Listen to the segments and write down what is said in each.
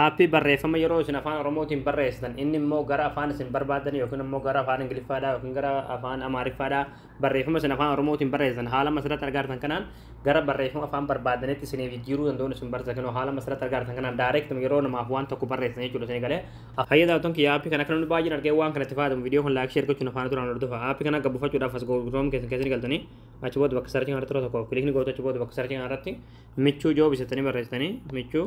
Aappii barreeffama yeroo isin afaan Oromootiin barreessitan inni immoo gara afaan isin barbaadan yookiin immoo gara afaan Ingiliffaadhaa yookiin gara afaan Amaariffaadhaa barreeffama isin afaan Oromootiin barreessitan haala masirratti argaartan kanaan gara barreeffama afaan barbaadanitti isiniif jijjiiruu danda'uun isin barsiisa kennu haala masirratti argaartan kanaan direct yeroo namaaf waan tokko barreessitan jechuudha isin galee fayya daawwatan kiyya aappii kana akka namni baay'een argee waan kanatti fayyadamu viidiyoo kan laayikii ergachuun afaan duraan hordofa aappii kana gabbufachuudhaaf as google chrome keessan keessan galtanii achi booda bakka sarchii kanarratti tokko kilikni gootu achi booda bakka sarchii kanarratti michuu joobisatanii barreessitanii michuu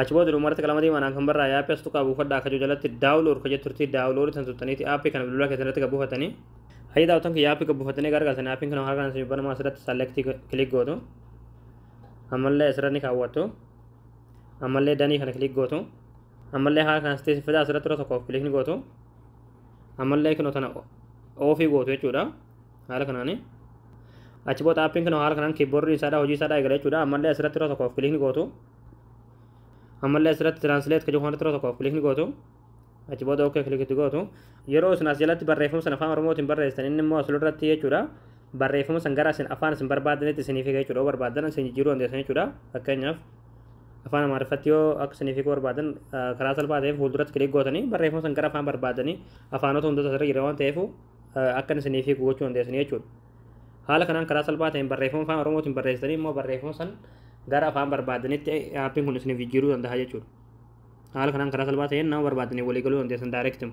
Achi booda dhuma irratti qalama diimaadhaan kan barraa'e aappii as tuqaa buufadhaa akka jiru jalatti daawulood ka jettu irratti daawulood tan tuttaniiti aappii kana bilbilaa keessan irratti gabbuufatanii. Hayyi daawwatan kiyya aappii gabbuufatanii gargaartanii aappiin kun harkaan isin banamaa asirratti saalektii kilik gootu. Ammallee asirra ni kaawwattu. Ammallee danii kana kilik gootu. Ammallee haala kanas ta'e fidaa asirratti irra tokkoof kilik ni gootu. Ammallee kunoo tana oofii gootu jechuudha. haala kanaani achi booda appiin kun haala kanaan kiiboordiin isaadhaa hojii isaadhaa eegala jechuudha ammallee asirratti yeroo tokkoof kiliikni gootu ammallee asirratti tiraansileet kan jedhu kanatti yeroo tokkoof kiliikni gootu achi booda okkee kilikitti gootu yeroo isin as jalatti barreeffama sana afaan oromootiin barreessitan inni immoo asirra irratti jechuudha barreeffama san gara isin afaan isin barbaadanitti isiniif hiika jechuudha yoo barbaadan isin jijjiiruu dandeessan jechuudha fakkeenyaaf afaan amaariffatti yoo akka isiniif hiikuu barbaadan karaa salphaa ta'een fuulduratti kiliik gootanii barreeffama san gara afaan barbaadanii afaanota hundota asirra jira waan ta'eef akkan isiniif hiiku gochuu dandeessanii jechuudha. Haala kanaan karaa salphaa ta'een barreeffama afaan Oromootiin barreessitanii immoo barreeffama san gara afaan barbaadanitti aappiin kun isiniif jijjiiruu danda'a jechuudha. Haala kanaan karaa salphaa ta'een nama barbaadaniin walii galuu dandeessan daayireektima.